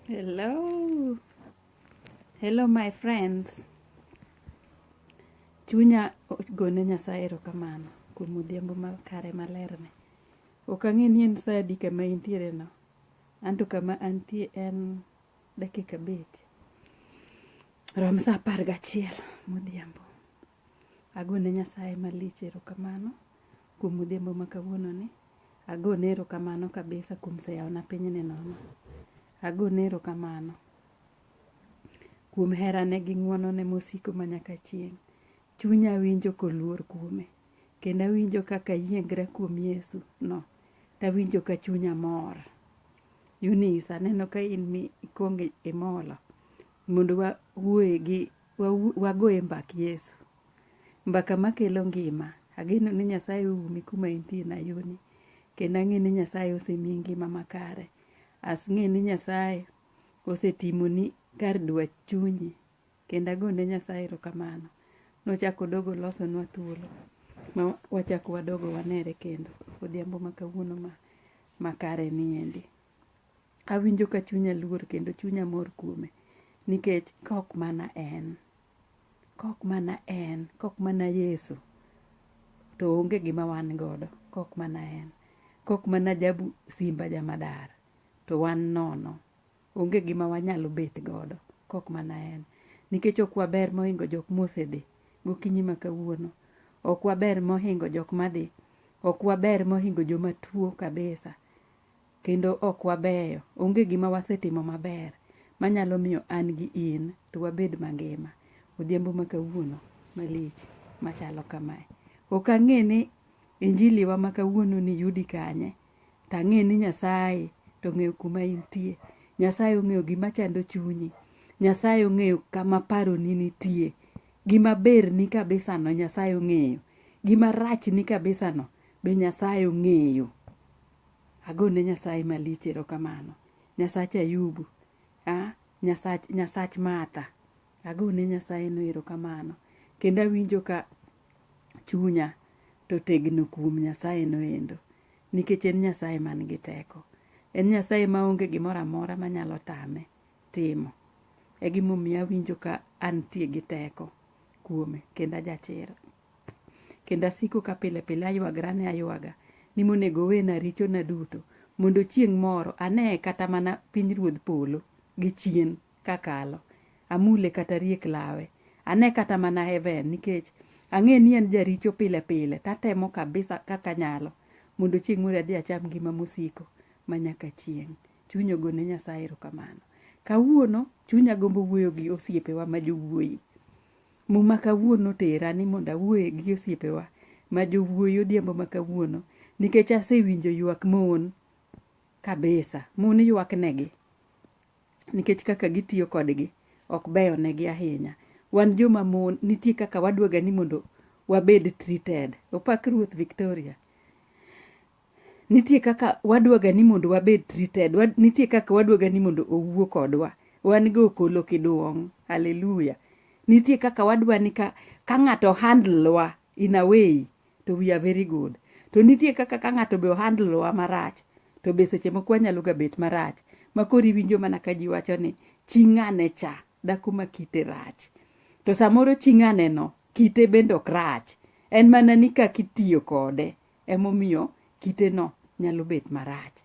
Hello. Hello my friends. Chunya gone Nyasaye erokamano kuom odhiambo makare malerne. Ok ang'e ni en saa adi kama intiere no. Anto kama antie en dakika abich. Rom saa apar gachiel modhiambo. Agone Nyasaye malich erokamano kuom odhiambo ma kawuono ni. Agone erokamano kabisa kuom seyawona piny ni nono. Agone erokamano kuom herane gi ng'wonone mosiko ma nyaka chieng'. Chunya winjo koluor kuome, kendo awinjo kaka ayiengra kuom Yesu no, tawinjo ka chunya mor. Eunice, aneno ka in mi ikwongo imolo mondo wawuoye gi wagoye mbak Yesu. Mbaka makelo ngima. Ageno ni Nyasaye oumi kuma intie nayoni. Kendo ang'e ni Nyasaye osemiyi ngima makare. Asng'e ni Nyasaye osetimoni kar dwach chunyi. Kendo ago ne Nyasaye erokamano. Nochako odogo olosonwa thuolo ma wachak wadogo wanere kendo odhiambo ma kawuono ma makare ni endi. Awinjo ka chunya luor kendo chunya mor kuome nikech kok mana en. Kok mana en, kok mana Yesu, to onge gima wan godo, kok mana en. Kok mana jabu simba jamadar, to wan nono. Onge gima wanyalo bet godo, kok mana en. Nikech ok waber mohingo jok mosedhi gokinyi ma kawuono. Ok waber mohingo jok madhi. Ok waber mohingo joma tuo kabisa. Kendo ok wabeyo. Onge gima wasetimo maber manyalo miyo an gi in to wabed mangima odhiambo ma kawuono malich machalo kamae. Ok ang'e ni injili wa ma kawuono ni yudi kanye, to ang'e ni Nyasaye to ong'eyo kuma intie. Nyasaye ong'eyo gima chando chunyi. Nyasaye ong'eyo kama paroni nitie. Gima berni kabisa no Nyasaye ong'eyo. Gima rachni kabisa no be Nyasaye ong'eyo. Agone Nyasaye malich erokamano. Nyasach Ayubu. Ah, Nyasach, Nyasach Martha. Agone Nyasaye no erokamano. Kendo awinjo ka chunya to tegno kuom Nyasaye no endo. Nikech en Nyasaye man gi teko. En Nyasaye ma onge gimoro amora manyalo tame timo. E gimomiyo awinjo ka antie gi teko kuome kendo ajachir. Kendo asiko ka pile pile aywagra ne aywaga ni monego owena richona duto mondo chieng' moro ane kata mana piny ruodh polo gi chien kakalo amule kata riek lawe ane kata mana heaven nikech ang'e ni en jaricho pile pile tatemo kabisa kaka nyalo mondo chieng' moro adhi acham ngima mosiko ma nyaka chieng' chuny ogone nyasaye erokamano kawuono chunya gombo wuoyo gi osiepewa ma jowuoyi Muma kawuono otera ni mondo awuoye gi osiepewa ma jowuoyi odhiambo ma kawuono nikech asewinjo ywak mon kabisa. Mon ywak negi nikech kaka gitiyo kodgi ok beyo negi ahinya. Wan joma mon nitie kaka wadwaga ni mondo wabed treated. Opak Ruoth Victoria. Nitie kaka wadwaga ni mondo wabed treated. Nitie kaka wadwaga ni mondo owuo kodwa. Wan go okolo kiduong'. Hallelujah. Nitie kaka wadwa ni ka, ka ng'ato handle wa in a way to we are very good. To nitie kaka ka ng'ato be ohandle wa marach to be seche moko wanyalo ga bet marach. Ma koro iwinjo mana ka ji wacho ni chi ng'ane cha, dhako ma kite rach. To samoro chi ng'ane no, kite bende ok rach. En mana ni kaka itiyo kode emomiyo kiteno nyalo bet marach.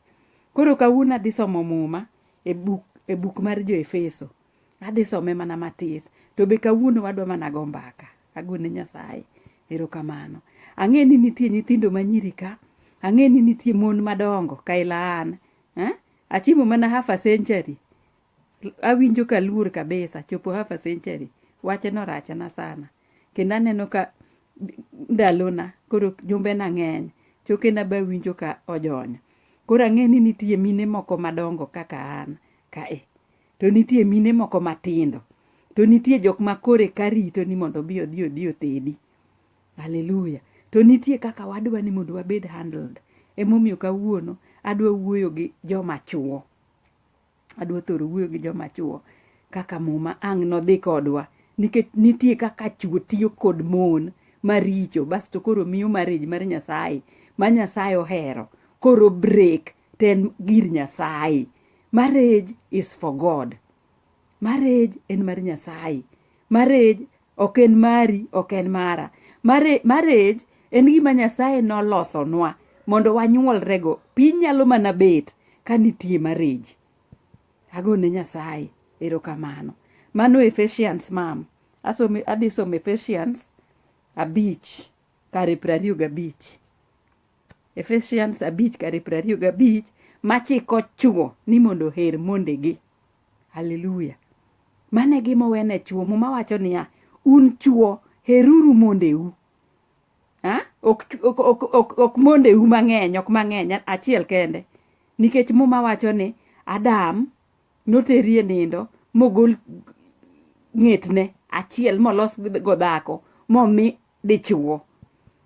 Koro kawuono adhi somo muma e buk, e buk mar jo Efeso. Adhi some mana matis. To be kawuono wadwa mana go mbaka. Agone Nyasaye. Erokamano. Ang'e ni nitie nyithindo manyiri ka. Ang'e ni nitie mon madongo ka ila an. Eh? Achimo mana half a century. Awinjo ka aluor kabisa chopo half a century. Wache no rachna sana. Kendo aneno ka ndalona koro jumbena ng'eny. Chokena be awinjo ka ojony. Koro ang'e ni nitie mine moko madongo kaka an kae. To nitie mine moko matindo. To nitie jok ma koro eka rito ni mondo obi odhi odhi otedi. Hallelujah. To nitie kaka wadwa ni mondo wabed handled. Emomiyo kawuono adwa wuoyo gi joma chuo. adwa thoro wuoyo gi joma chuo kaka muma ang' nodhi kodwa nikech nitie kaka chuo tiyo kod mon maricho basto koro miyo marriage mar nyasaye ma nyasaye ohero koro break to en gir nyasaye marriage is for god marriage en mar nyasaye marriage ok en mari ok en mara Mare- marriage en gima nyasaye nolosonwa mondo wanyuolrego piny nyalo mana bet ka nitie marriage agone nyasaye erokamano mano ephesians mam Asome- adhi somo ephesians abich kare piero ariyo gabich Ephesians abich kare piero ariyo gabich machiko chwo ni mondo oher mondegi haleluya mane gimowene chwo muma wacho niya un chwo heruru mondeu ha? ok, chw- ok, ok, ok, ok mondeu mang'eny ok mang'eny achiel kende nikech muma wacho ni adam noterie nindo mogol ng'etne achiel molos go dhako momi dichwo.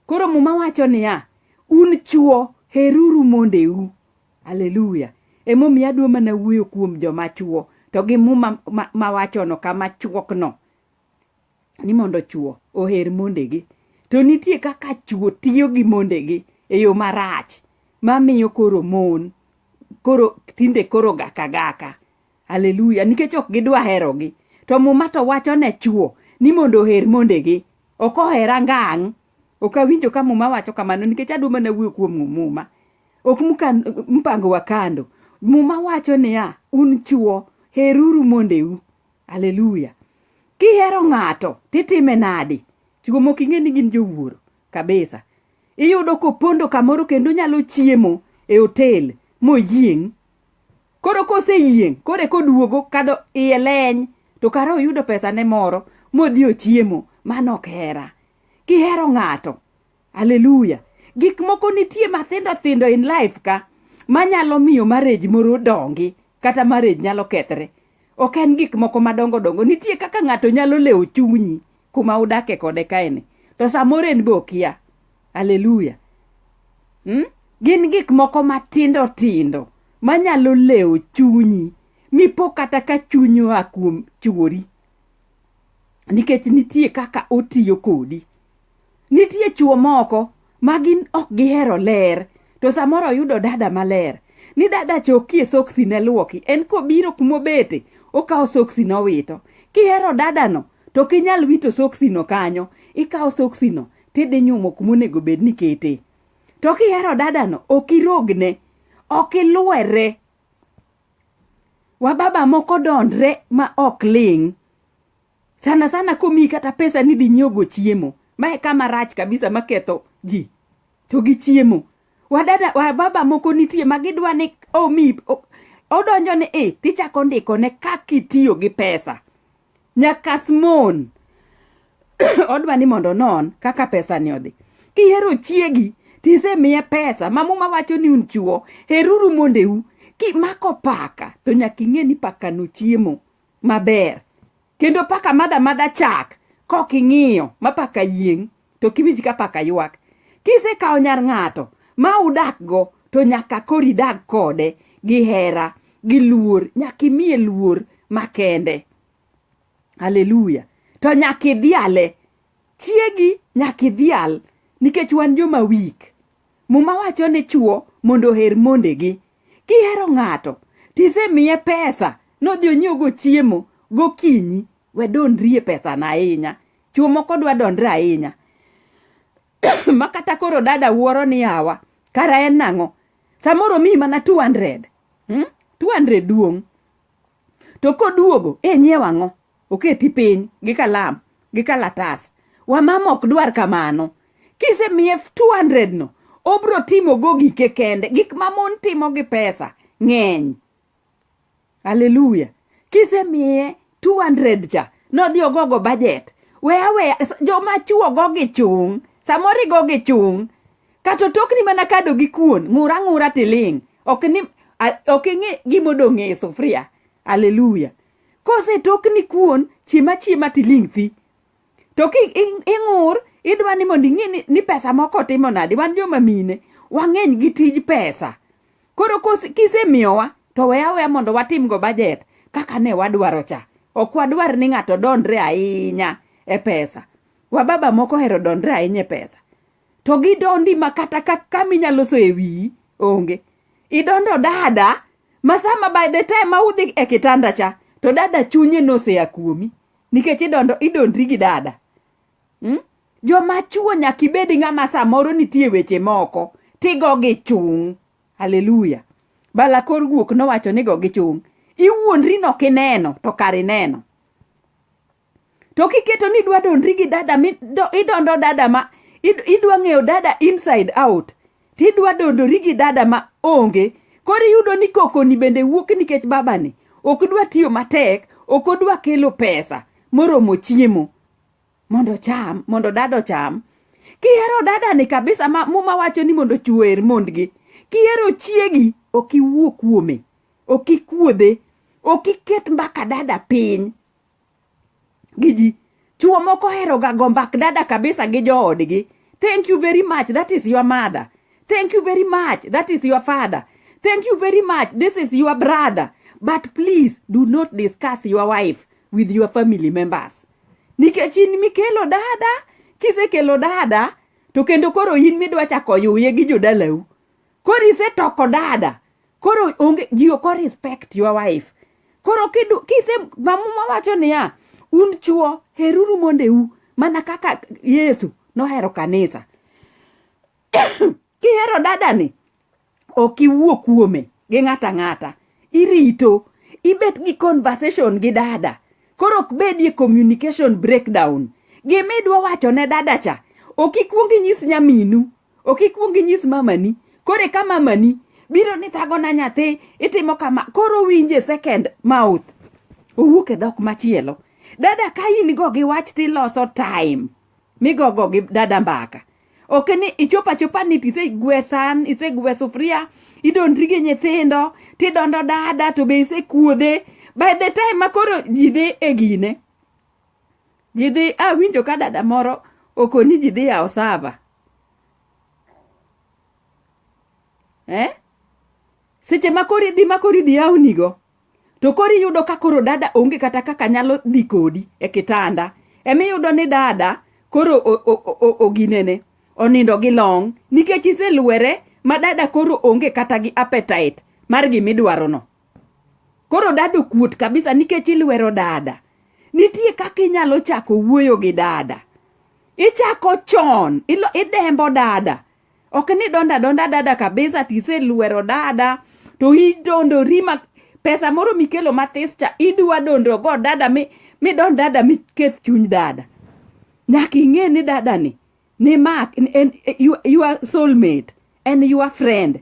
Koro muma wacho niya, un chwo heruru mondeu. Haleluya. Emomiyo adwa mana wuoyo kuom joma chwo to gi muma ma- mawachono kama chwokno ni mondo chwo oher mondegi. To nitie kaka chwo tiyo gi mondegi e yo marach mamiyo koro mon koro tinde koro gaka gaka Haleluya, nikech ok gidwa herogi. To muma to wacho ne chwo ni mondo oher mondegi. Ok ohera ngang'. Ok awinjo ka muma wacho kamano nikech adwa mana wuoyo kuom muma. Ok mukan- mpango wa kando. Muma wacho niya, un chwo heruru mondeu. Haleluya. Kihero ng'ato titime nadi? Chwo mok ing'e ni gin jowuoro kabisa. Iyudo kopondo kamoro kendo nyalo chiemo e hotel moyieng' Koro koseyieng' koro eka oduogo kadho iye leny to kara oyudo pesane moro modhi ochiemo. Mano ok hera. Kihero ng'ato, haleluya, gik moko nitie mathindo thindo in life ka manyalo miyo marriage moro dongi kata marriage nyalo kethre. Ok en gik moko madongo dongo. Nitie kaka ng'ato nyalo lewo chunyi kuma udake kode kaeni. To samoro en be okia. aleluya hmm? gin gik moko matindo tindo manyalo lewo chunyi mipo kata ka chunyi oa kuom chuori nikech nitie kaka otiyo kodi nitie chuo moko ma gin ok gihero ler to samoro oyudo dada maler ni dada chokie soksi ne lwoki en kobiro kumobete okawo soksi nowito kihero dadano to kinyal wito soksino kanyo ikawo soksino tidhi nyumo kuma onego bed ni ketee to kihero dadano ok irogne ok ilwere wababa moko dondre ma ok ling sana sana komiyi kata pesa ni dhi nyiogo chiemo ma e kama rach kabisa maketho ji to gi chiemo wadada wababa moko nitie ma gidwa ni omi odonjo ni i tichako ndikone kaka itiyo gi pesa Nyakas mon. Odwa ni mondo non kaka pesa ni odhi. Kihero chiegi tisemiye pesa ma muma wacho ni un chuo heruru mondeu kimako paka to nyaka ing'e ni paka no chiemo maber kendo paka madha madha chak kok ing'iyo ma paka yieng' to kiwinj ka paka ywak kisekawo nyar ng'ato ma udakgo to nyaka koro idag kode gi hera gi luor nyaka imiye luor makende haleluya to nyaka idhiale chiegi nyaka idhial nikech wan joma wik muma wacho ni chuo mondo oher mondegi kihero ng'ato tisemiye pesa nodhi onyiewogo chiemo gokinyi wadondrie pesana ahinya chuo moko dwa dondre ahinya ma kata koro dada wuoro ni awa kara en nang'o samoro miyi mana 200 hmm? 200 duong' to koduogo e nyiew ang'o oketi piny gi kalam gi kalatas wamama ok dwar kamano kisemiye 200 no obro timogo gike kende gik ma mon timo gi pesa ng'eny haleluya kisemiye 200 cha nodhi ogogo bajet weya weya joma chuo go gi chung' samoro igo gi chung' kata otokni mana kado gi kuon ng'ura ng'ura tiling' ok ni a- ok ing'e gima odong' e sufuria haleluya kosetokni kuon chiema chiema tiling' thi to ki ing'ur idwa ni mondo ing'e ni pesa moko timo nadi wan joma mine wang'eny gi tij pesa koro kisemiyowa to weya weya mondo watimgo bajet kaka ne wadwaro cha ok wadwar ni ng'ato dondre ahinya e pesa wababa moko hero dondre ahinya e pesa to gidondi ma kata kaka minyalo so e wiyi onge idondo dada ma sama by the time ma udhi e kitanda cha to dada chunye noseya kuomi nikech idondo idondri gi dada hmm? joma chuo nyaka ibed ng'ama samoro nitie weche moko tigo gi chung' haleluya balakor guok nowacho nigo gi chung' iwuondri no kineno to kar ineno to kiketo ni idwa dondri gi dada idondo dada ma idwa ng'eyo dada inside out Tidwa dondori gi dada ma onge. Koro iyudo ni kokoni bende wuok nikech babani. Ok dwa tiyo matek, ok odwa kelo pesa moromo chiemo mondo cham, mondo dada ocham. Kihero dada ni kabisa ma muma wacho ni mondo chuer mondgi. Kihero chiegi ok iwuo kuome. Ok ikuodhe. Ok iket mbaka dada piny. gi ji chuo moko heroga go mbak dada kabisa gi joodgi thank you very much that is your mother thank you very much that is your father thank you very much this is your brother but please do not discuss your wife with your family members nikech in mikelo dada kisekelo dada to kendo koro in midwa chako yuye gi jodalau Koro isetoko dada. Koro onge ji ok respect your wife. Koro kidu kise mamuma wacho niya un chuo heruru mondeu mana kaka Yesu nohero kanisa. Kihero dada ni ok iwuo kuome gi ng'ata ng'ata. Irito ibet gi conversation gi dada. Koro ok bedie communication breakdown. Gimidwa wacho ne dada cha ok ikwong inyis nyaminu ok ikwong inyis mamani koro eka mamani biro ni thagona nyathi itimo kama koro winje second mouth owuok e dhok machielo dada ka in go gi wach tiloso time migogo gi dada mbaka ok ni ichopo achopa ni tisegwe san isegwe sufuria idondri gi nyithindo tidondo dada to be isekuodhe by the time ma koro ji dhi e gine jidhi awinjo ka dada moro okoni ji dhi yawo sava eh? seche ma koro idhi ma koro idhi yawnigo to koro iyudo ka koro dada onge kata kaka nyalo dhi kodi e kitanda emiyudo ni dada koro oginene onindo gi long nikech iselwere ma dada koro onge kata gi appetite mar gimidwarono koro dada okuot kabisa nikech ilwero dada nitie kaka inyalo chako wuoyo gi dada ichako chon ilo, idembo dada ok ni donda donda dada kabisa tiselwero dada to idondori ma pesa moro mikelo mathis cha idwa dondrogo dada mi midon dada miketh chuny dada nyaka ing'e ni dada ni ni mak en, en, you, your soulmate en your friend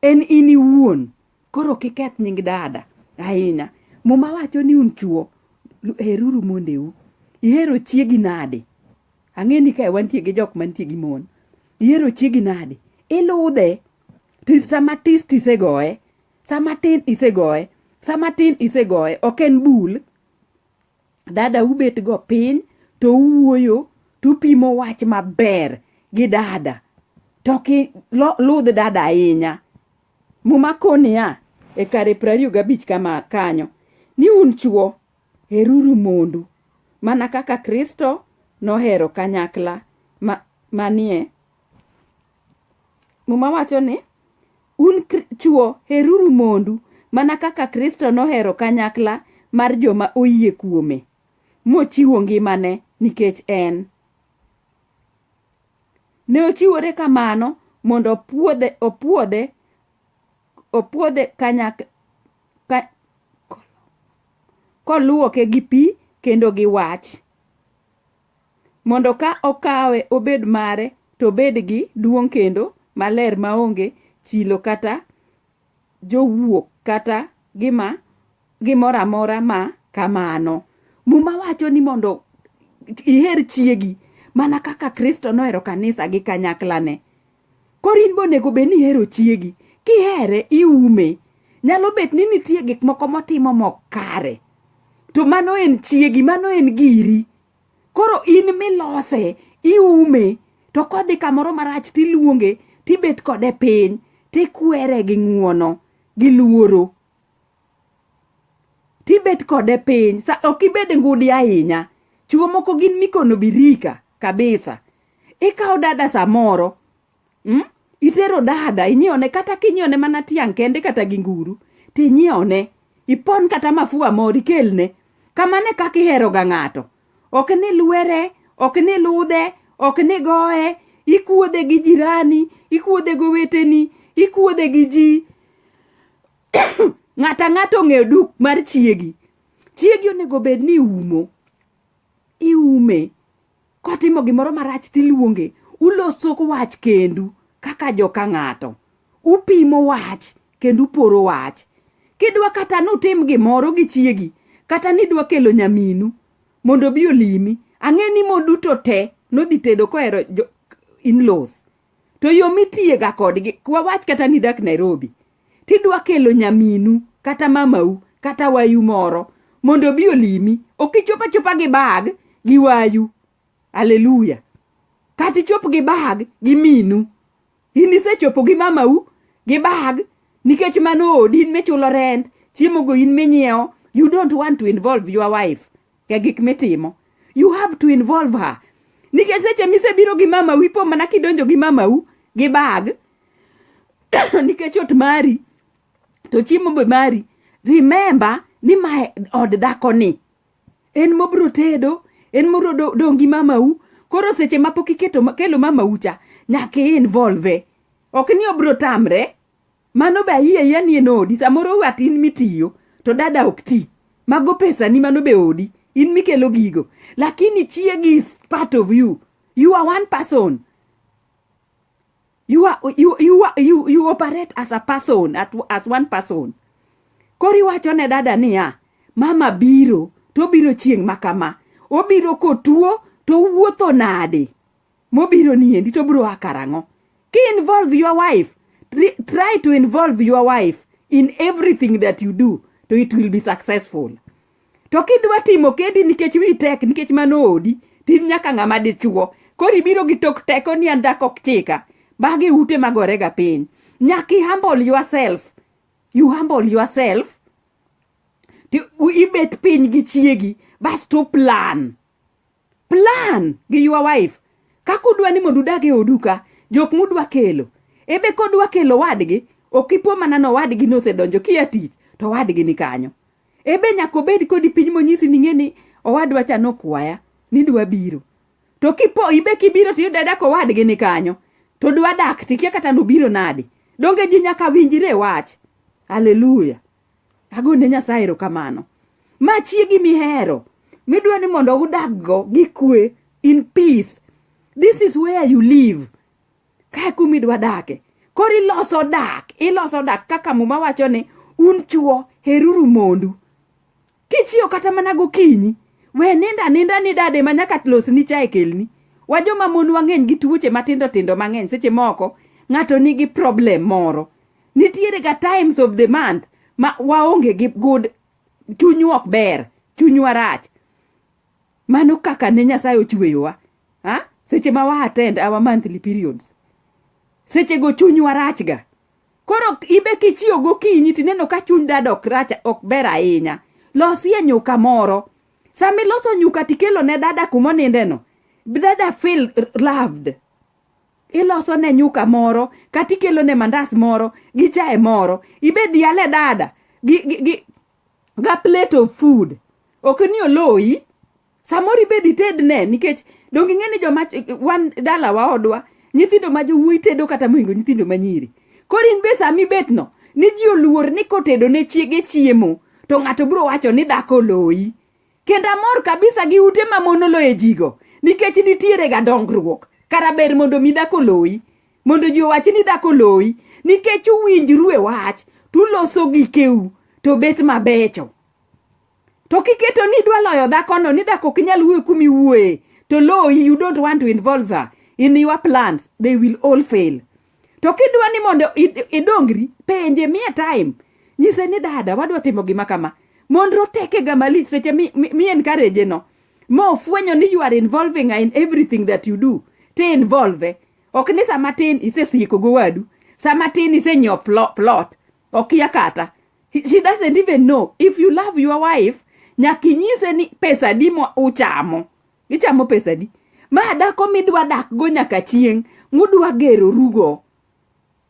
en in iwuon Koro kiketh nying dada ahinya. Muma wacho ni un chuo heruru mondeu. Ihero chiegi nade? Ang'e ni kae wantie gi jok mantie gi mon. Ihero chiegi nade? Iludhe. To sama tist isegoye. Sama tin isegoye. Sama tin isegoye. Ok en bul. Dada ubet go piny to uwuoyo to upimo wach maber gi dada. To ki ludh dada ahinya. Muma koni niya, e kare prariyo gabich kama kanyo, ni un chwo, heruru mondu, mana kaka Kristo nohero kanyakla ma, manie. Muma wacho ni, un chwo, heruru mondu, mana kaka Kristo nohero kanyakla mar joma oyie kuome, mochiwo ngimane nikech en. Ne ochiwore kamano mondo opuodhe opuodhe opuodhe kanyak ka, koluoke gi pi kendo gi wach mondo ka okawe obed mare to obed gi duong' kendo maler maonge chilo kata jowuok kata gima gimoro amora ma kamano muma wacho ni mondo iher chiegi mana kaka kristo nohero kanisa gi kanyaklane koro in bonego bed ni ihero chiegi kihere iume nyalo bet ni nitie gik moko motimo mok kare to mano en chiegi mano en giri koro in milose iume to kodhi kamoro marach tiluonge tibet kode piny tikwere gi ng'uono gi luoro tibet kode piny sa ok ibed ngudi ahinya chuo moko gin mikono birika kabisa ikawo dada samoro mm? itero dada inyiewne kata kinyiewne mana tiang' kende kata gi nguru tinyiewne ipon kata mafua moro ikelne kamane kaka iheroga ng'ato ok ni lwere ok ni ludhe ok ni goye ikuodhe gi jirani ikuodhe gi oweteni ikuodhe gi ji ng'ata ng'ato ong'eyo duk mar chiegi chiegi onego bed ni iumo iume kotimo gimoro marach tiluonge uloso wach kendu kaka joka ng'ato upimo wach kendo uporo wach kidwa kata nutim gimoro gi chiegi kata nidwa kelo nyaminu mondo bi olimi ang'e ni moduto te nodhi tedo kohero inlos to yo mitiyega kodgi wawach kata nidak nairobi tidwa kelo nyaminu kata mamau kata wayu moro mondo obi olimi ok ichop achopa gi bag gi wayu aleluya kata ichop gi bag gi minu in isechopo gi mamau gi bag nikech mano odi in michulo rent chiemogo in minyiewo you don't want to involve your wife e gik mitimo you have to involve her nikech seche misebiro gi mama wi po mana kidonjo gi mama u gi bag nikech ot mari to chiemo be mari remember ni ma od dhako ni en mobro tedo en mobro dong' gi mama u koro seche ma pok iketo kelo mama u cha nyaka involve ok ni obro tamre Mano be ayie ya ni en odi. Samoro wat in mitiyo to dada ok ti. Mago pesa ni mano be odi. In mikelo gigo. Lakini chiegi is part of you. You are one person. You are, you, you, are, you, you operate as a person, at, as one person. Kori wacho ne dada niya, mama biro, to biro chieng' makama. Obiro kotuo, to wuotho nade? mobiro ni endi to bro akarang'o ki involve your wife Tri- try to involve your wife in everything that you do to it will be successful to kidwa timo kendi nikech wi tek nikech mano odi tin nyaka ng'ama dichuo koro ibiro gi tok teko ni an dhako ok chika magi ute magorega piny nyaka i humble yourself you humble yourself to ibet piny gi chiegi basto plan plan gi your wife kaka udwa ni mondo udag e odu ka jok mudwa kelo ebe kodwa kelo wadgi ok ipo mana ni owadgi nosedonjo kia tich to owadgi ni kanyo ebe nyaka obed kodi piny monyisi ni ng'e ni owadwa cha nokwaya ni dwa biro to kipo ibe kibiro to iyudo dak owadgi ni kanyo to dwa dak tikia kata nobiro nadi donge ji nyaka winjre wach haleluya Agone Nyasaye erokamano. Ma chiegi mihero midwa ni mondo udaggo gi kwe in peace. This is where you live. Kae kumidwa dake. Koro iloso dak, iloso dak kaka muma wacho ni un chuo heruru mondu. Kichiew kata mana gokinyi, we ninda ninda ni dade ma nyaka losni chae kelni. Wa joma mon wang'eny gi tuoche matindo tindo mang'eny seche moko ng'ato nigi problem moro. Nitiere ga times of the month ma waonge gi good chunywa ok ber, chunywa rach. Mano kaka ne Nyasaye ochweyowa. Ha? Seche ma wa attend our monthly periods. Seche go chunywa rachga. Koro ibe kichiew gokinyi tineno ka chuny dad ok rach ok ber ahinya. Losie nyuka moro. Sama iloso nyuka tikelo ne dada kuma onindeno, dada feel r- loved. Iloso ne nyuka moro, kata ikelo ne mandas moro, gi chae moro. Ibe dhiale dada gi, gi, gi, ga plate of food. Ok ni oloyi. samoro ibed itedne nikech donge ing'e ni joma wan dalawa odwa nyithindo ma jowuoyi tedo kata mohingo nyithindo ma nyiri koro in be sami bet no ni ji oluor ni kotedo ne chiege chiemo to ng'ato biro wacho ni dhako oloyi kendo amor kabisa gi ute ma mon oloye jigo nikech nitiere ga dongruok kara ber mondo mi dhako oloyi mondo ji owach ni dhako oloyi nikech uwinjru e wach tuloso gikeu to bet mabecho to kiketo ni idwa loyo dhakono ni dhako ok inyal wuoyo kuma iwuoye to loyi you don't want to involve her in your plans they will all fail to kidwa ni mondo id- idongri penje mie time nyise ni dada wadwa timo gima kama mondro tekega malich seche mi- mi mi encourage no ma ofwenyo ni you are involving her in everything that you do te involve ok ni sama tin isesieko gowadu sama tin isenyiewo plo- plot okia kata He- she doesn't even know if you love your wife nyaka inyise ni pesa di mo uchamo ichamo pesa di ma dako midwa dak go nyaka chieng mudwa gero rugo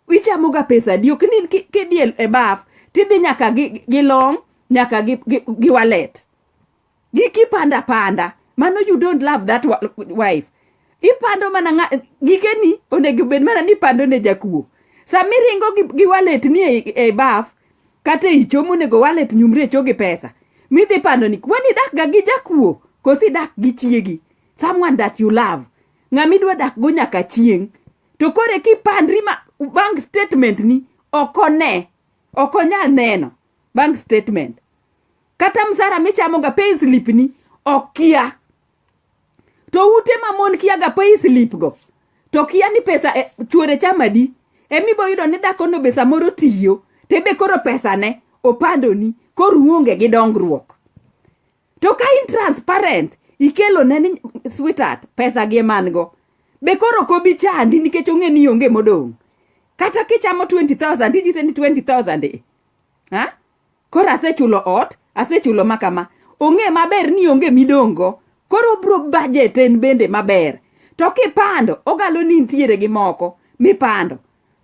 ichamo ga pesa di ok ni ki- kidhi e- e baf tidhi nyaka gi, gi long nyaka gi, gi, gi wallet gi kipanda panda mano you don't love that wa- wife ipando mana ng'a- gikeni onego bed mana ni ipando ne jakuo sama iringo gi, gi wallet ni e, e baf kata e ichomo onego wallet nyumri e cho gi pesa midhi pando ni kwani idak ga gi jakuo koso idak gi chiegi someone that you love ng'ama idwa dak go nyaka chieng' to koro eki pandri ma bank statement ni ok one ok onyal neno bank statement kata msara michamoga payslip ni ok kia to ute ma mon kiaga payslip go to kia ni pesa e, chuore chamadi emibo yudo ni dhakono be samoro tiyo tebe koro pesane opandoni koro uonge gi dongruok to ka in transparent ikelo ne ni sweetheart pesa gi man go be koro kobi chandi nikech ong'e ni onge modong' kata kichamo 20000 tijise ni 20000 e ha Koro asechulo ot, asechulo ma kama. Ong'e maber ni onge midongo. Koro obro budget en bende maber. To kipando, ogalo ni nitiere gi moko mipando.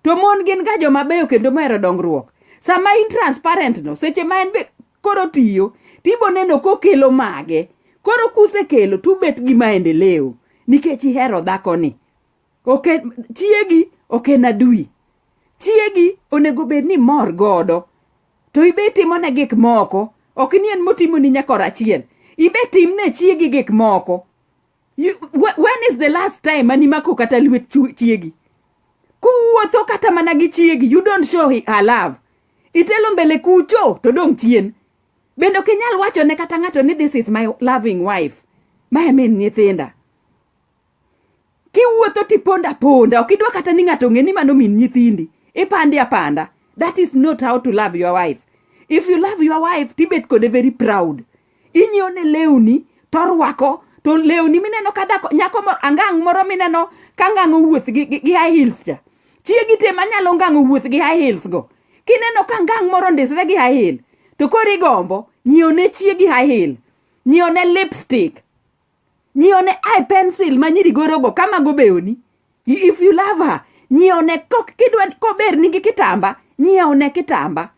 To mon gin ga joma beyo kendo mohero dongruok. Sama in transparent no, seche ma en be koro tiyo, tibo neno kokelo mage. Koro kusekelo tubet gi maendeleo nikech ihero dhakoni. ok en chiegi ok en adui chiegi onego bed ni mor godo to ibe itimone gik moko ok ni en motimoni nyaka orachiel ibe timne chiegi gik moko You- wh- when is the last time animako kata lwet chu- chiegi kuwuotho kata mana gi chiegi you don't show hi- her love itelo mbele kucho to dong' chien bende ok inyal wachone kata ng'ato ni this is my loving wife ma e min nyithinda kiwuotho tipondo aponda ok idwa kata ni ng'ato ong'e ni mano min nyithindi ipande apanda that is not how to love your wife if you love your wife tibet kode very proud inyiewo ne lewni torwako to lewni mineno ka dhako nyako moro angang' moro mineno ka ngang' owuoth gi, gi, gi high heels cha chiegi te manyalo ngang' owuoth gi high heels go kineno ka ngang' moro ndisre gi high heel to koro igombo nyiewo ne chiegi high heel nyiewo ne lipstick nyione i pencil ma nyiri gorogo kama gobewoni if you love her nyione kok kidwa kober nigi kitamba nyiewne kitamba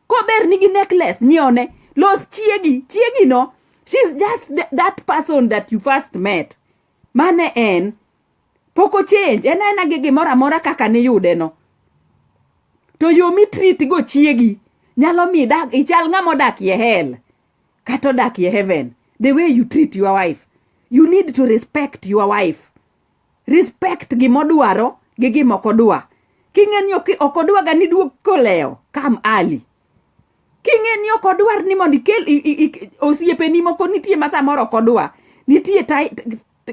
kober nigi necklace nyiewne los chiegi chiegi no she's just th that person that you first met mane en pok ochange en aena gi gimoro amora kaka niyude no to yo mitrit go chiegi nyalo mi ichal ng'ama odakie hel kata odak ye heaven the way you treat your wife you need to respect your wife respect gimodwaro gi gimokodwa king'e ni okodwaga ni duog kolewo kam ali king'e ni okodwar ni mondo ikel osiepeni moko nitie ma samoro okodwa nitie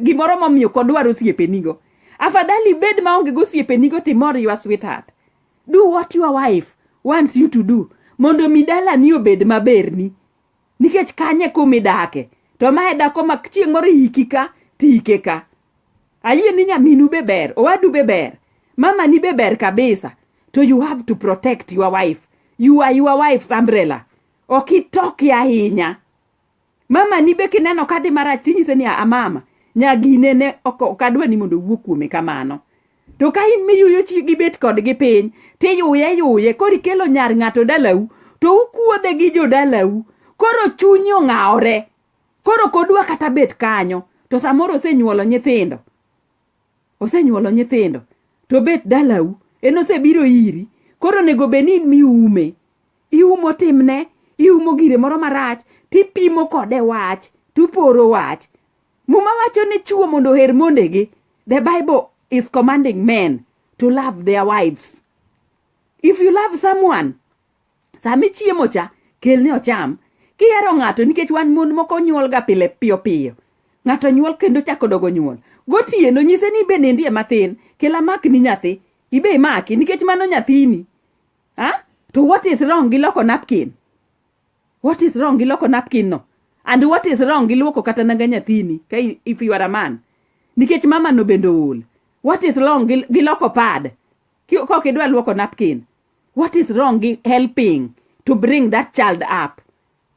gimoro momiyo okodwar osiepenigo afadhali ibed maonge gosiepenigo timor ywa sweetheart do what your wife wants you to do mondo mi dalani obed maberni nikech kanye kumidake to mae dhako ma chieng' moro iki ka tiike ka ayie ni nyaminu be ber owadu be ber mamani be ber kabisa to you have to protect your wife you are your wife's umbrella ok itoki ahinya mama ni be kineno kadhi marach tinyise ni amama nyagine ne ok adwa ni mondo owuo kuome kamano to ka in miyuyo chi gibet kodgi piny tiyuye yuye koro ikelo nyar ng'ato dalau to ukuodhe gi jodalau koro chunyi ong'awore koro kodwa kata bet kanyo to samoro osenyuolo nyithindo osenyuolo nyithindo to bet dalau en osebiro iri koro onego bed ni in miume iumo timne iumo gire moro marach tipimo kode wach tuporo wach muma wacho ni chuo mondo oher mondegi the bible is commanding men to love their wives if you love someone sama ichiemo cha kelne ocham kihero ng'ato nikech wan mon moko nyuolga pile piyo piyo ng'ato nyuol kendo chako dogo nyuol gotieno nyise ni be nindie matin kela mak ni nyathi ibe imaki nikech mano nyathini ha to what is wrong gi loko napkin what is wrong gi loko napkin no and what is wrong gi luoko kata nanga nyathini ka i- if you are a man nikech mama no bende ool what is wrong gi, gi loko pad Ki- kok idwa luoko napkin what is wrong gi helping to bring that child up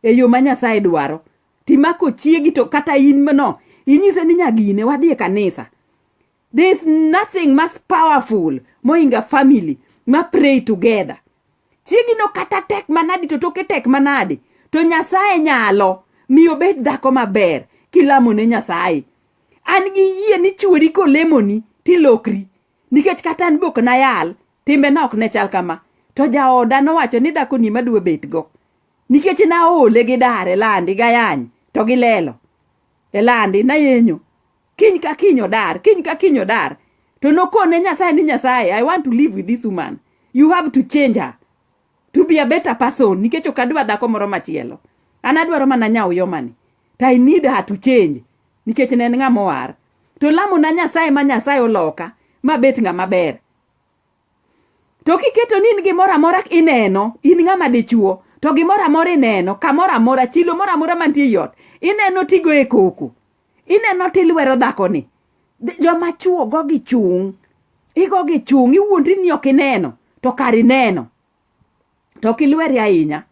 e yo ma nyasaye dwaro timako chiegi to kata in mno inyise ni nyagine wadhi e kanisa there is nothing mas powerful mohinga family ma pray together chiegi no kata tek manadi to toke tek manadi to nyasaye nyalo mi obed dhako maber kilamo ne nyasaye an gi yie ni chwori kolemoni tilokri nikech kata an bok nayal timbena ok ne chal kama to jaoda nowacho ni dhakoni madwa betgo nikech naole gi dar e landi gayany to gi lelo e landi nayenyo kiny ka kiny odar kiny ka kiny odar to nokone nyasaye ni nyasaye i want to live with this woman you have to change her to be a better person nikech ok adwa dhako moro machielo an adwaro mana nyawo yomani to i need her to change nikech ne en ng'a mowar to lamona nyasaye ma nyasaye oloka mabet ng'a maber to kiketo ni in gimoro amora ineno in ng'ama dichuo to gimoro amora ineno kamoro amora chilo moro amora mantie ei ot ineno tigo e koko ineno tilwero dhakoni joma chuo go gi chung' igo gi chung' iwuondri ni ok ineno to kar ineno to ok ilweri ahinya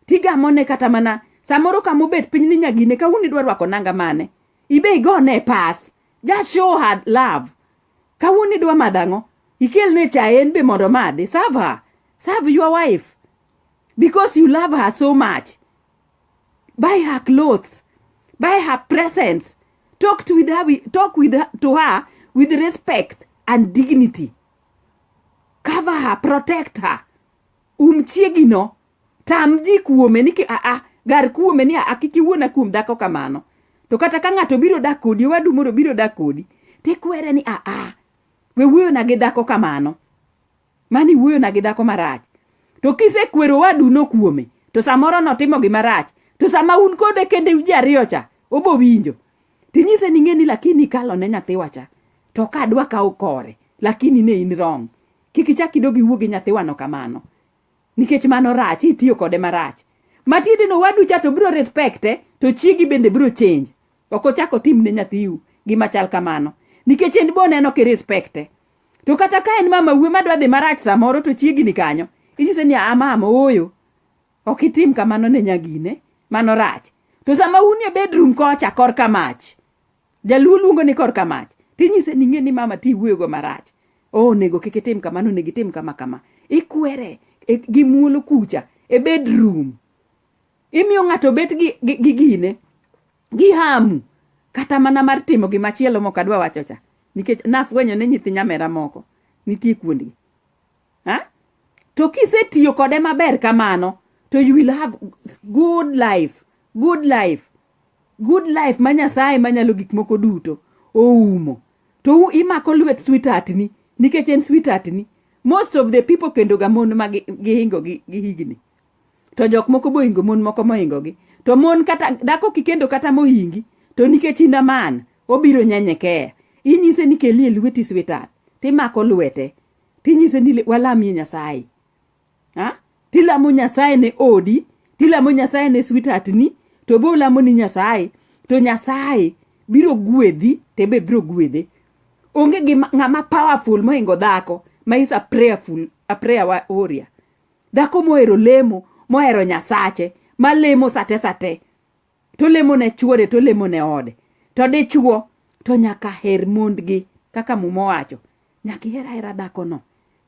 tigamone kata mana samoro kama obet piny ni nyagine kawuono idwa rwako nanga mane ibe igone pas ja show her love kawuono idwa madho ang'o ikelne cha en be mondo madhi serve her serve your wife because you love her so much buy her clothes buy her presents talk to with her, wi- talk with her, to her with respect and dignity cover her protect her um chiegino tam ji kuome ni ki- aa gar kuome ni aa kik iwuona kuom dhako kamano to kata ka ng'ato biro dak kodi wadu moro biro dak kodi tikwere ni aa we wuoyona gi dhako kamano Mani wuoyo na gi dako marach. To kise kwero wadu no kuome, to samoro no timo gi marach. To sama un kode kende uji ariyo cha, obo winjo. Tinyise ni ngeni lakini kalo ne nyathiwa cha. To ka adwa ka okore, lakini ne in wrong. Kiki chak idogi wuo gi nyathiwa no kamano. Nikech mano rach, itiyo kode marach. Matiende no wadu cha to biro respecte, to chiegi bende biro change. Ok ochako tim ne nyathiu gima chal kamano. Nikech en bo neno ki respecte. to kata ka en mama wuo madwa dhi marach samoro to chiegni kanyo inyise ni a mama ooyo ok itim kamano ne nyagine mano rach to sama un e bedroom kocha korka mach jaluo luongo ni korka mach tinyise ni ng'e ni mama ti wuoyogo marach oh, onego kik itim kamano onego itim kama kama ikwere e, gi muolo kucha e bedroom imiyo ng'ato bet gi, gi, gi gine gi hamu kata mana mar timo gima chielo mok adwa wacho cha nikech nafwenyo ni nyithi nyamera moko nitie kuondgi ha to kisetiyo kode maber kamano to you will have good life good life good life ma nyasaye manyalo gik moko duto oumo to imako lwet sweetheart ni nikech en sweetheart ni most of the people kendo ga mon ma gihingo gi higni to jok moko bohingo mon moko mohingogi to mon kata dhako kikendo kata mohingi to nikech in aman obiro nyenyekeya inyise ni kelie lweti swetat timako lwete tinyise ni walamie nyasaye ha? tilamo nyasaye ne odi tilamo nyasaye ne swetat ni to be olamo ni nyasaye to nyasaye biro gwedhi te be biro gwedhe onge gi ng'ama powerful mohingo dhako ma is a prayerful a prayer warrior Dhako mohero lemo, mohero Nyasache, ma lemo sate sate. To lemo ne chuore, to lemo ne ode. To dichuo, to nyaka her mondgi, kaka muma owacho. Nyaka iher ahera dhako no.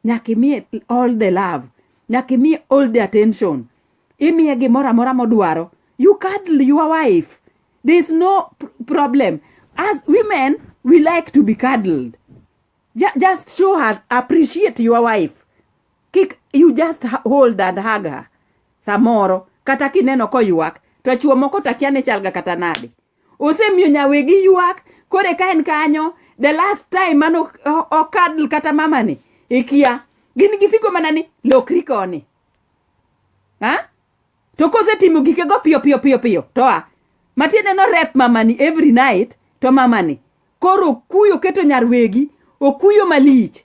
Nyaka imiye all the love. Nyaka imiye all the attention. Imiye gimoro amora modwaro. You cuddle your wife. There is no pr- problem. As women, we like to be cuddled. Ju- just show her appreciate your wife kik you just ha- hold and hug her samoro kata kineno koywak to chuo moko takia ni chalga kata nade osemiyo nyawegi ywak kore ka en kanyo the last time mane ok- o- okadl kata mamani ikia gin gisiko mana ni lokri koni ha to kosetimo gikego piyo piyo piyo piyo to a matiende no rep mamani every night to mamani koro okuyo keto nyar wegi okuyo malich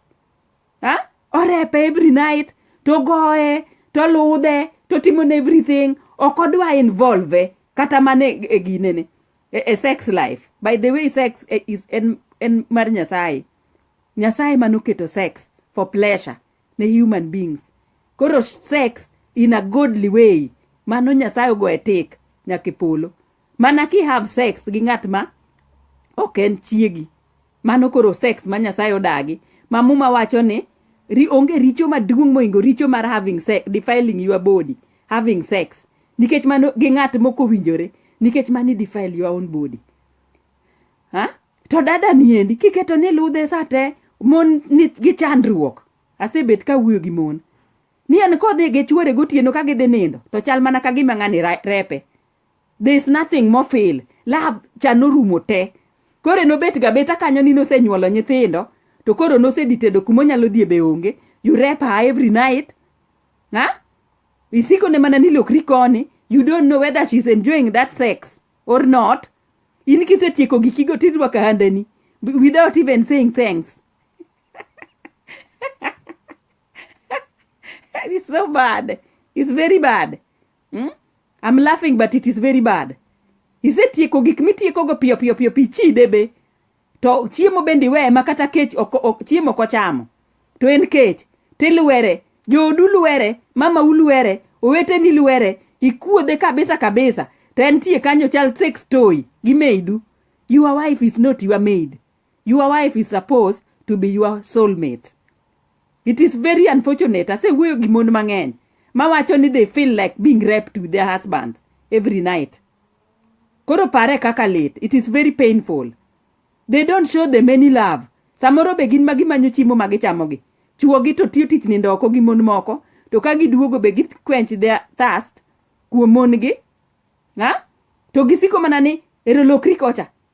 ha orepe every night to goye to ludhe to timone everything ok odwa involve kata mana e e ginene e, e sex life by the way sex e, is en, en mar nyasaye nyasaye manoketo sex for pleasure ne human beings koro sex in a godly way mano nyasaye ogo e tik nyaka e polo mana ki have sex gi ng'at ma ok en chiegi mano koro sex ma nyasaye odagi ma muma wacho ni ri, onge richo maduong' mohingo richo mar having sex, defiling your body having sex nikech mano gi ng'at mokowinjore nikech mano i defile your own body ha? to dada niendi kiketo ni ludhe sa te mon ni gi chandruok asebet ka wuoyo gi mon ni en kodhi gi chwore gotieno ka gidhi nindo to chal mana ka gima ng'ani ra- repe there is nothing more fail lab cha norumo te koro nobet ga beta kanyo ni nosenyuolo nyithindo to koro nosedhi tedo kuma onyalo dhie be onge you rep her every night ha isikone mana ni lokri koni you don't know whether she's enjoying that sex or not in kisetieko gikigo tirwako handani without even saying thanks it's so bad it's very bad hmm? i'm laughing but it is very bad isetieko gik mitiekogo piyo piyo piyo pichide be to chiemo bende iweye ma kata kech chiemo ok ochamo to en kech tilwere joodu lwere mama ulwere oweteni lwere ikuodhe kabisa kabisa to entie kanyo chal sex toy gi maidu your wife is not your maid your wife is supposed to be your soulmate it is very unfortunate asewuoyo gi mon mang'eny mawacho ni they feel like being raped with their husbands every night Koro pare kaka lit. It is very painful. They don't show them any love. Samoro be gin ma gimanyo chiemo ma gichamogi. Chuogi to tiyo tich nindo oko gi mon moko, to ka giduogo be gi quench their thirst kuom mon gi. Ha? To gisiko mana ni ero lokri kocha.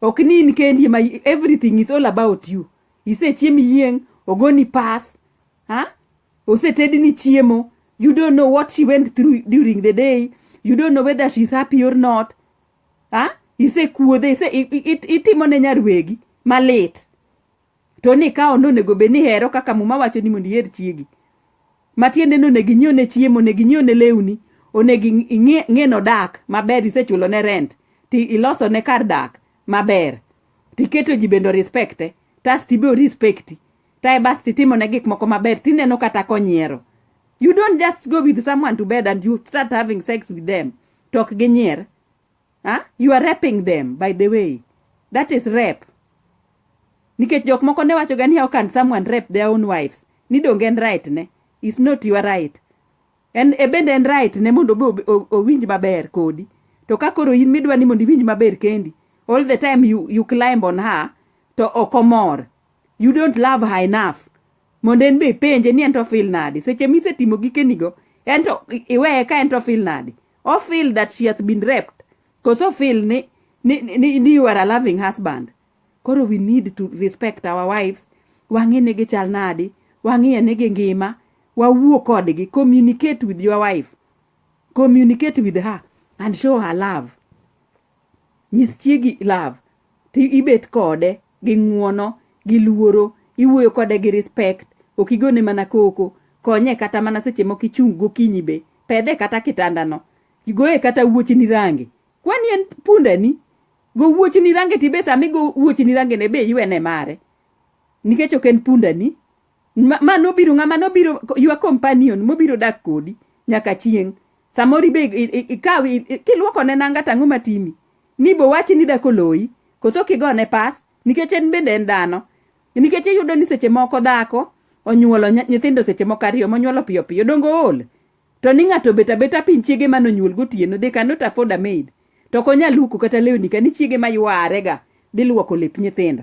ok ni in kendi ma everything is all about you isechiem yieng ogoni pass ha osetedni chiemo you don't know what she went through during the day you don't know whether she's happy or not ha isekuodhe ise, i- i- it- itimone nyarwegi malit to ni ka ononego bed ni hero kaka muma wacho ni mondo iher chiegi matiende ni onego inyiew ne chiemo onego inyiew ne lewni onego ing'e nodak maber isechulo ne rent ti iloso ne kar dak maber tiketo ji bende respecte tas tibe respecti tae bas titimo ne gik moko maber tineno kata konyiero you don't just go with someone to bed and you start having sex with them tok ginyier Huh? You are raping them by the way. That is rape. Nikech jok moko ne wacho gani how can someone rape their own wives? Ni donge en right ne? Is not your right. En e bende en right ne mondo obe owinj maber kodi. To ka koro in midwa ni mondo iwinj maber kendi, all the time you, you climb on her to okomor. You don't love her enough. Mondo en be ipenje ni en to feel nadi. Seche misetimo gikenigo, en to iweye ka en to feel nadi. o feel that she has been raped cause o feel ni, ni, ni, ni you are a loving husband koro we need to respect our wives wang'e ne gichal nadi wang'iye ne gi ngima wawuo kodgi communicate with your wife communicate with her and show her love Nyis chiegi love to ibet kode gi ng'uono gi luoro, iwuoyo kode gi respect, ok igone mana koko, konye kata mana seche moko ichung' gokinyi be, pedhe kata kitandano, goye kata wuochni range. Kwani en pundani? Go wuochni range to ibe sama igo wuochni rangene be iwene mare nikech ok en pundani. Ma, ma nobiro ng'ama nobiro your companion mobiro dak kodi nyaka chieng'. Samoro ibe i- i- ikaw i- i- kiluoko ne nanga tang'o matimi. Ni bo wachi ni dako loyi. Koso kigone pas nikech en bende en dhano. Nikech iyudo ni seche moko dhako onyuolo nya- nyithindo seche moko ariyo monyuolo piyo piyo dongo ool. To ni ng'ato obet abeta piny chiege mane onyuol gotieno they cannot afford a maid. To ok onyal luoko kata lewni ka ni chiege ma yuarega dhi luoko lep nyithindo.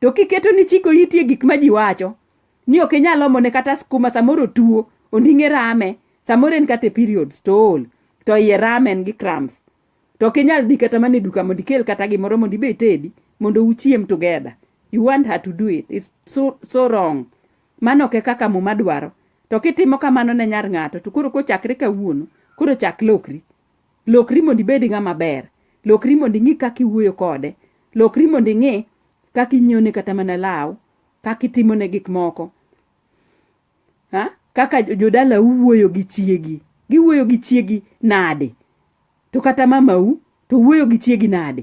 to kiketo ni chiko iti e gik ma ji wacho ni ok inyal omone kata skuma samoro tuo onding'e rame samoro en kata e periods to ol to iye rame en gi cramps to ok inyal dhi kata mana e duka mondo ikel kata gimoro mondo ibe itedi mondo uchiem together you want her to do it it's so, so wrong mano ok e kaka muma dwaro to kitimo kamano ne nyar ng'ato to koro kochakre kawuono koro chak lokri Lokri mondo ibed ng'ama ber. Lokri mondo ing'i kaka iwuoyo kode. Lokri mondo ing'i kaka inyiewone kata mana law, kaka itimone gik moko. Ha? Kaka jodala uwuoyo gi chiegi. Giwuoyo gi chiegi nade? To kata mamau to wuoyo gi chiegi nade?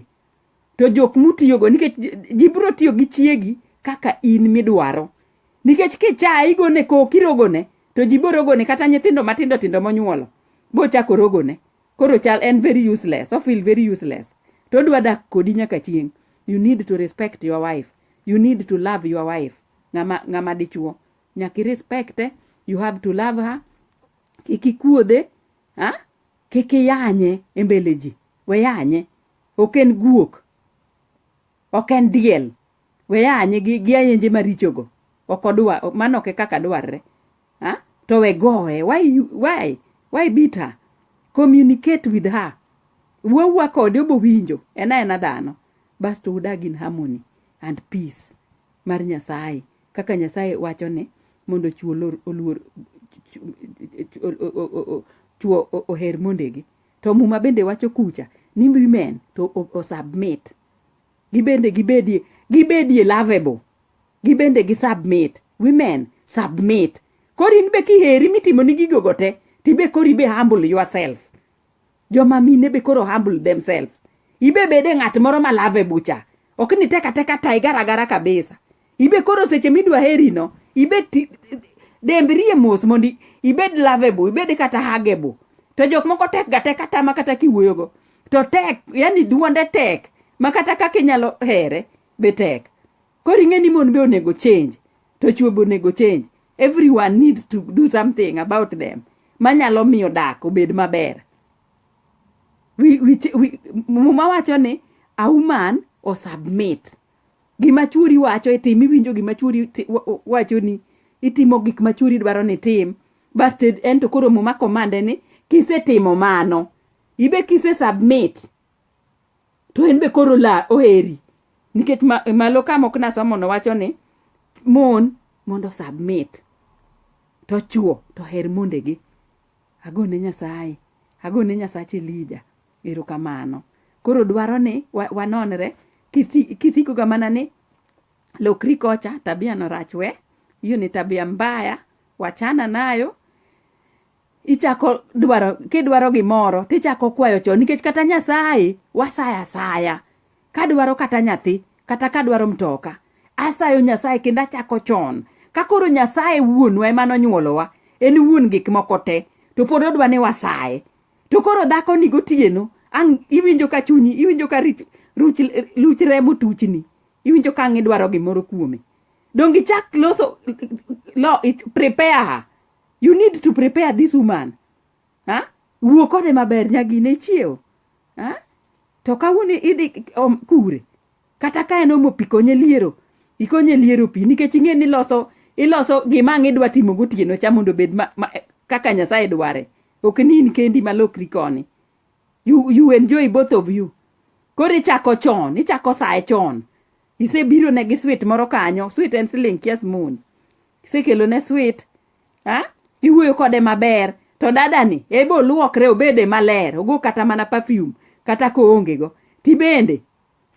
to jok mutiyogo nikech ji biro tiyo gi chiegi kaka in midwaro nikech kichaye igone kok irogone to ji borogone kata nyithindo matindo tindo monyuolo bochako rogone koro chal en very useless ofeel very useless to odwa dak kodi nyaka chieng' you need to respect your wife you need to love your wife ng'ama ng'ama dichuo nyaka irespecte you have to love her kik ikuodhe ha kik iyanye e mbele ji we yanye ok en guok ok en diel we anye gi, gi ayenje marichogo ok odwa mano ok e kaka dwarre ha? to we goye why, you- why, why beat her communicate with her wuowua kode obowinjo en aena dhano basto udag in harmony and peace mar nyasaye kaka nyasaye wacho ni mondo chuo lor- oluor chu- chu- o- o- o- o- chuo o- oher mondegi To muma bende wacho kucha ni women to osubmit. Gibende gibedie gibedie lovable. Gibende gi submit. Women submit. Kori in be kiheri mitimo ni gigo gote tibe kori be humble yourself. Joma mine be koro humble themselves. Ibe bede ng'at moro ma lovable cha. Ok ni teka teka tiger agara kabisa. ibe koro seche midwa heri no ibe dembrie mos mondo ibed lovable ibed kata hagable to jok moko tek ga tek kata ma kata kiwuoyogo to tek yani duonde tek ma kata kaka inyalo here be tek koro ing'e ni mon be onego change to chwo be onego change everyone needs to do something about them manyalo miyo dak obed maber muma wacho ni a woman o submit gima churi wacho itim iwinjo gima churi wacho ni itimo gik ma churi dwaro ni tim basto en to koro muma komande ni kisetimo mano ibe kise submit to en be koro la oheri nikech malo ka mok nasomo no wacho ni mon mondo submit to chuo to her mondegi agone nyasaye agone nyasach elija Erokamano. Koro dwaro ni wa, wanonre kisi- kisikoga mana ni lokri kocha, tabia no rach we, hiyo ni tabia mbaya, wachana nayo. Ichako dwaro kidwaro gimoro tichako kwayo chon nikech kata Nyasaye wasaya asaya. Kadwaro kata nyathi, kata kadwaro mtoka, asayo Nyasaye kendo achako chon. Ka koro Nyasaye wuonwa ema nonyuolowa, en wuon gik moko te, to pod odwa ni wasaye. to koro dhako ni gotieno ang' iwinjo ka chunyi iwinjo ka rich- ruch luch remo tuchni iwinjo ka ang' idwaro gimoro kuome donge chak loso lo it- prepare her you need to prepare this woman ha wuo kode maber nyagine chiewo ha to kawuono idhi om- kure kata ka en omo pi konye liero ikonye liero pi nikech ing'e ni iloso iloso gima ang' idwa timo gotieno cha mondo obed ma, ma, kaka nyasaye dware ok ni in kendi malokri koni you, you enjoy both of you koro ichako chon ichako saye chon isebiro ne gi swit moro kanyo swit en siling kias moon isekelo ne swit ha iwuoyo kode maber to dadani ebe oluokre obede maler ogo kata mana perfume kata koongego tibende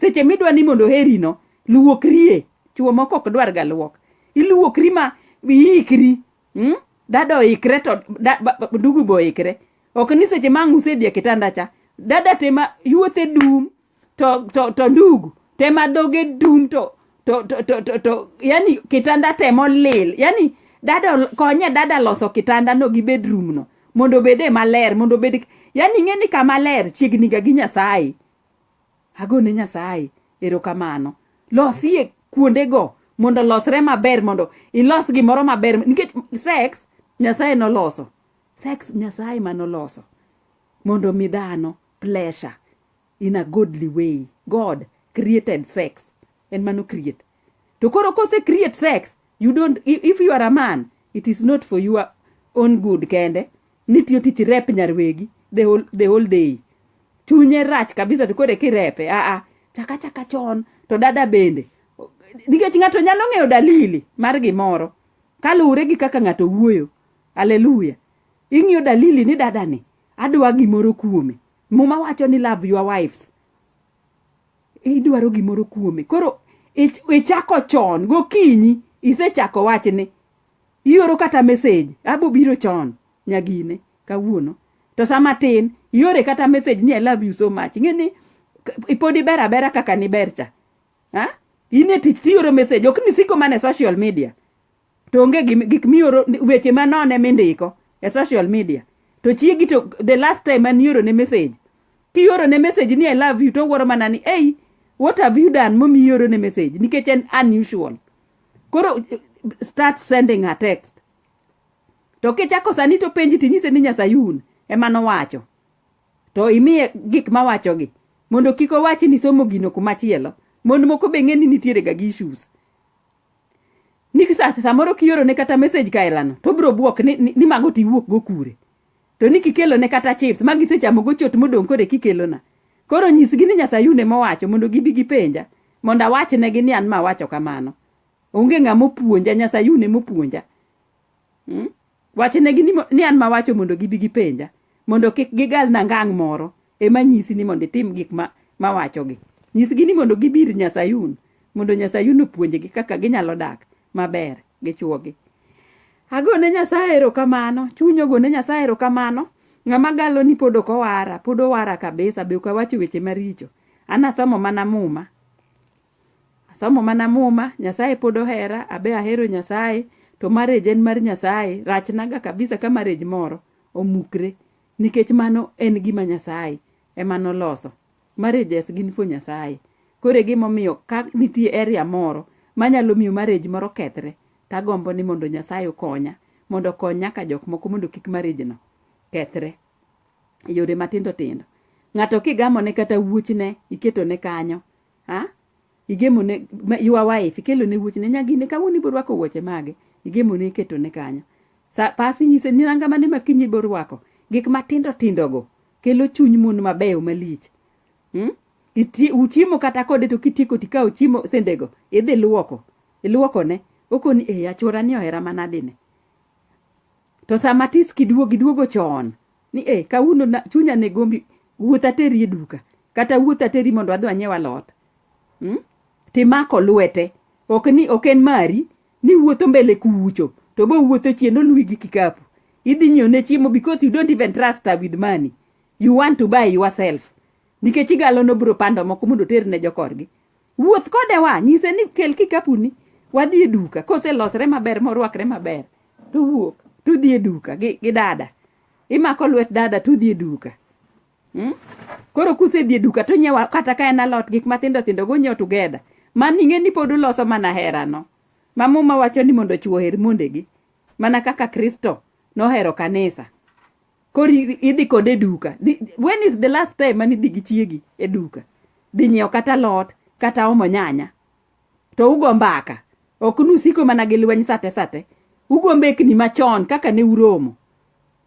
seche midwa ni mondo oherino luokrie chuo moko ok dwarga luok iluokri ma iikri mm? dada oikre to da, ba, ba, ndugu be oikre ok ni seche ma ang' usedhi e kitanda cha dada tema yuothe dum to, to, to ndugu tema dhoge dum to, to, to, to, to, to yani kitanda temo lil yani dada ol- konye dada loso kitanda no gi bedroom no mondo obede maler mondo obed yani ing'e ni kama ler chiegni ga gi nyasaye Agone Nyasaye erokamano. Losie kuondego mondo olosre maber mondo ilos gimoro maber nikech sex Nyasaye noloso. Sex Nyasaye manoloso mondo mi dhano pleasure in a godly way. God created sex. En mano create. To koro kose create sex, you don't if you are a man, it is not for your own good kende. ni tiyo tich rep nyar wegi the whole, the whole day chunye rach kabisa to koro kirepe aa chaka chaka chon to dada bende nikech ng'ato nyalo ng'eyo dalili mar gimoro kaluwore gi kaka ng'ato wuoyo aleluya ing'iyo dalili ni dadani adwa gimoro kuome muma wacho ni love your wives idwaro gimoro kuome koro ich- ichako chon gokinyi isechako wachni ioro kata message abo biro chon nyagine kawuono to sama tin iore kata message ni i love you so much ing'e ni pod iber abera kaka niber cha ha? in e tich tioro message ok ni siko mana e social media to onge gim- gik mioro weche manon ema indiko e social media to chiegi to the last time mane ioro ne message kioro ne message ni i love you to owuoro mana ni ei what have you done momiyo ioro ne message nikech en unusual koro start sending her text to kichako sani to penji tinyise ni nyasayun ema nowacho to imiye gik mawachogi mondo kik owachi ni somo gino kumachielo mond moko be ng'e ni nitiere ga gi issues ni samoro kiorone kata message kaelano to obiro bwok ni, ni, ni mago tiwuok go kure to ni kikelo ne kata chips ma gisechamo gochot modong' kore kikelona koro nyisgi ni nyasayune mowacho mondo gibi gipenja mondo awachnegi ni an ma awacho kamano onge ng'ama opuonja nyasayune mopuonja hmm? wachnegi ni, ni an ma wacho mondo gibi gipenja mondo kik gigalna ngang' moro ema nyisi ni mondo itim gik ma mawachogi nyisgi ni mondo gibir nyasayun mondo nyasayun opuonjgi kaka ginyalo dak maber gi chuogi agone nyasaye erokamano chuny ogone nyasaye erokamano ng'ama galo ni pod ok owara pod owara kabisa be ok awacho weche maricho an asomo mana muma asomo mana muma nyasaye pod ohera abe ahero nyasaye to marriage en mar nyasaye rachnaga kabisa ka marriage moro omukre nikech mano en gima Nyasaye ema noloso. Marriages gin for Nyasaye. Koro e gima omiyo ka nitie area moro manyalo miyo marriage moro kethre, tagombo ni mondo Nyasaye okonya, mondo okony nyaka jok moko mondo kik marriage no kethre. E yore matindo tindo. Ng'ato kigamone kata wuochne iketone kanyo, a igemone ma- your wife ikelone wuoche ne nyagine kawuono ibiro rwako wuoche mage igemone iketone kanyo sa pas inyise ni nanga mane ma kiny ibiro rwako gik matindo tindogo kelo chuny mon mabeyo malich Mm? Iti- uchiemo kata kode to kitieko tikawo chiemo sendego idhi luoko iluokone okoni e achorani ohera manadine to sama tis kiduogo iduogo chon ni e eh, kawuono chunya ne gombi wuoth ateri e duka kata wuoth ateri mondo adhi anyiew alot hmm? timako lwete ok ni ok en mari ni wuotho mbele kucho to bo wuotho chien oluwi gi kikapu idhi nyiew ne chiemo because you don't even trust her with money you want to buy yourself nikech igalo nobro pando moko mondo oter ne jokorgi wuoth kode wa nyise ni kel kikapuni wadhi e duka koselosre maber morwakre maber to wuok to udhi e duka gi, gi dada imako lwet dada to udhi e duka hmm? koro kusedhi e duka to nyewa kata ka en alot gik mathindo thindo go nyew together man ing'e ni pod uloso mana herano ma muma wacho ni mondo chwo oher mondegi mana kaka kristo nohero kanisa koro idhi kode e duka when is the last time mane idhi gi chiegi e duka dhi nyiewo kata lot kata omo nyanya to ugo mbaka ok nusiko mana gi lweny sate sate ugo mbekni machon kaka ne uromo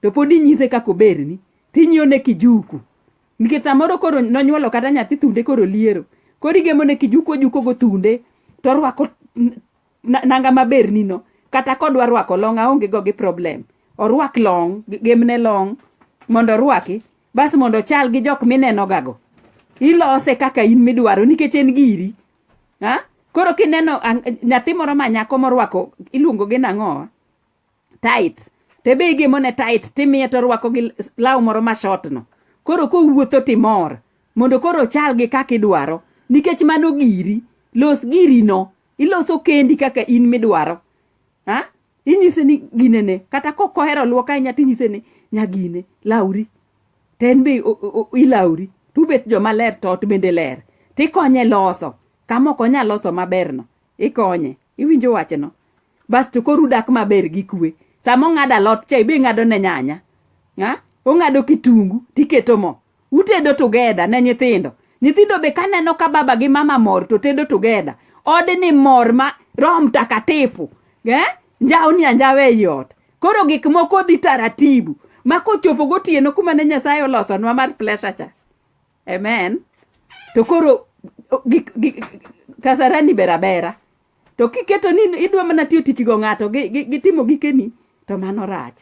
to pod inyise kaka oberni tinyiewo ne kijuku nikech samoro koro nonyuolo kata nyathi thunde koro liero koro igemo ne kijuku ojuko go thunde to orwako nanga maber nino kata kodwa rwako long aonge go gi problem orwak long gemne long mondo orwaki bas mondo chal gi jok mineno gago ilose kaka in midwaro nikech en giri ha koro kineno nyathi moro ma nyako morwako iluongo gi nang'owa tight to be igemone tight timiye to orwako gi law moro ma shotno koro kowuotho timor mondo koro ochal gi kaka idwaro nikech mano giri los girino iloso kendi kaka in midwaro ha inyise ni ginene kata kok ohero luok ahinya tinyise ni nyagine lauri to en be o- o- o- ilauri tubet joma ler to ot bende ler tikonye loso kama ok onyal loso maberno ikonye iwinjo wachno basto koro udak maber gi kwe sama ong'ado alot cha ibe ing'ado ne nyanya ha? ong'ado kitungu tiketo mo utedo together ne nyithindo nyithindo be kaneno ka baba gi mama mor to tedo together ode ni mor ma roho mtakatifu eh? njawo ni anjawe ei ot koro gik moko dhi taratibu ma kochopo gotieno kuma ne nyasaye olosonwa mar plesha cha amen to koro o- gik- gik- kasarani berabera to kiketo ni idwa mana tiyo tich go ng'ato gi- gi- gitimo gikeni to mano rach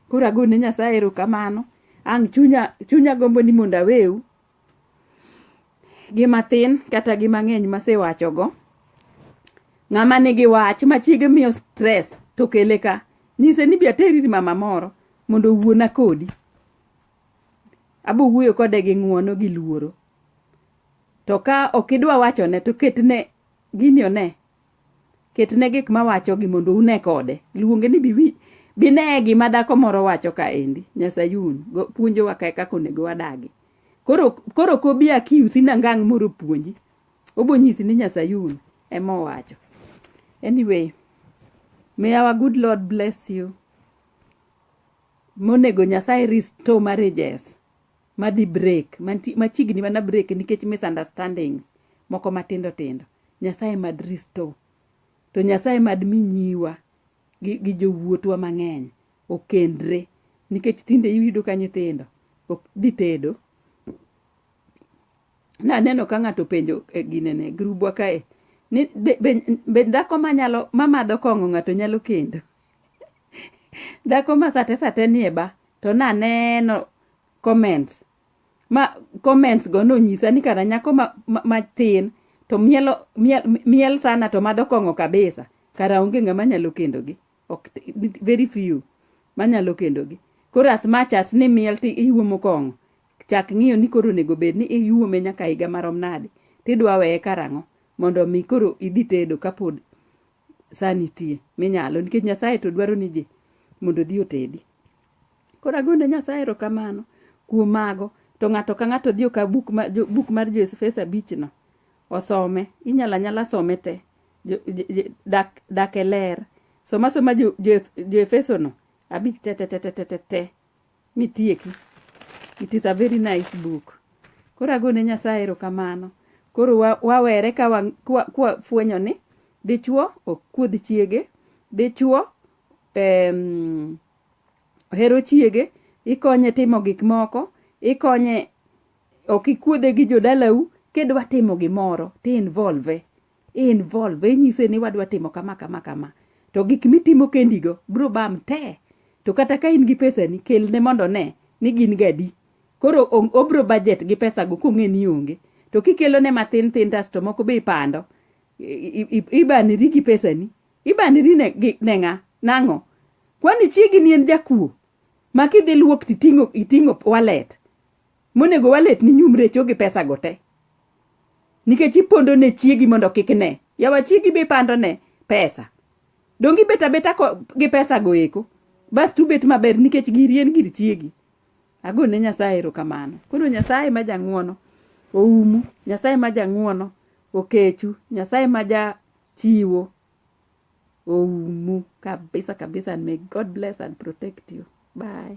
koro agone nyasaye erokamano ang' chunya chunya gombo ni mondo aweu gi mathin kata gi mang'eny masewachogo ng'ama nigi wach ma chiege miyo stress to kele ka nyise ni bi ateri ir mama moro mondo owuona kodi Abo wuoyo kode gi ng'uono gi luoro. To ka ok idwa wachone to ketne gini one. Ketne gik mawachogi mondo une kode. Luonge ni bibi bine gima dhako moro wacho kaendi. Nyasayun puonjowa kae kaka onego wadagi. Koro koro ok obi akiusi na ngang' moro opuonji. Obo nyisi ni Nyasayun ema owacho. Anyway, may our good Lord bless you. monego Nyasaye restore marriages madhi break, manti- machiegni mana break nikech misunderstandings moko matindo tindo. Nyasaye mad restore. To Nyasaye mad mi nyiwa gi, gi jowuotwa mang'eny okendre nikech tinde iyudo ka nyithindo ok dhi tedo naneno ka ng'ato penjo e ginene grubwa kae ni be, be, be dhako manyalo mamadho kong'o ng'ato nyalo kendo dhako ma sate sate nie ba to naneno comments ma comments go nonyisa ni kara nyako ma- ma- matin to mielo miel, miel sana to madho kong'o kabisa kara onge ng'ama nyalo kendogi ok very few manyalo kendogi koro as much as ni miel ti iuomo kong'o chak ng'iyo ni koro onego bed ni iuome nyaka higa marom nade tidwa weye karang'o mondo mi koro idhi tedo kapod saa nitie minyalo nikech nyasaye to dwaro ni ji mondo odhi otedi koro agone nyasaye erokamano kuom mago to ng'ato ka ng'ato odhi okaw buk, ma, buk mar joefeso abichno osome inyalo anyala some te dak, dak e ler soma soma joefesono jo, jo abich tetetetetete te, te, te, te, te. mitieki. It is a very nice book. Koro agone Nyasaye erokamano. Koro wa, wawere ka wa, kwa, kwa fwenyo ni dichuo ok kuodh chiege, dichuo em, ohero chiege, ikonye timo gik moko, ikonye ok ikuodhe gi jodalau, kidwa timo gimoro ti involve. involve inyise ni wadwa timo kama kama kama to gik mitimo kendigo biro bam te to kata ka in gi pesani kelne mondo ne ni gin gadi koro obro budget gi pesago kong'e ni onge to kikelone mathin thin tasto moko be ipando ibaniri gi pesani ibaniri ne ng'a nang'o kwani chiegi ni en jakuo ma kidhi luok titing'o walet monego walet ni nyumre cho gi pesa go te nikech ipondo ne chiegi mondo kik ne yawa chiegi be pando ne pesa donge ibet abeta gi pesa go eko bas tu bet maber nikech giri en gir chiegi ago ne nyasaye erokamano koro nyasaye ma jang'uono oumu nyasaye ma jang'uono okechu nyasaye ma ja chiwo oumu kabisa kabisa and may god bless and protect you bye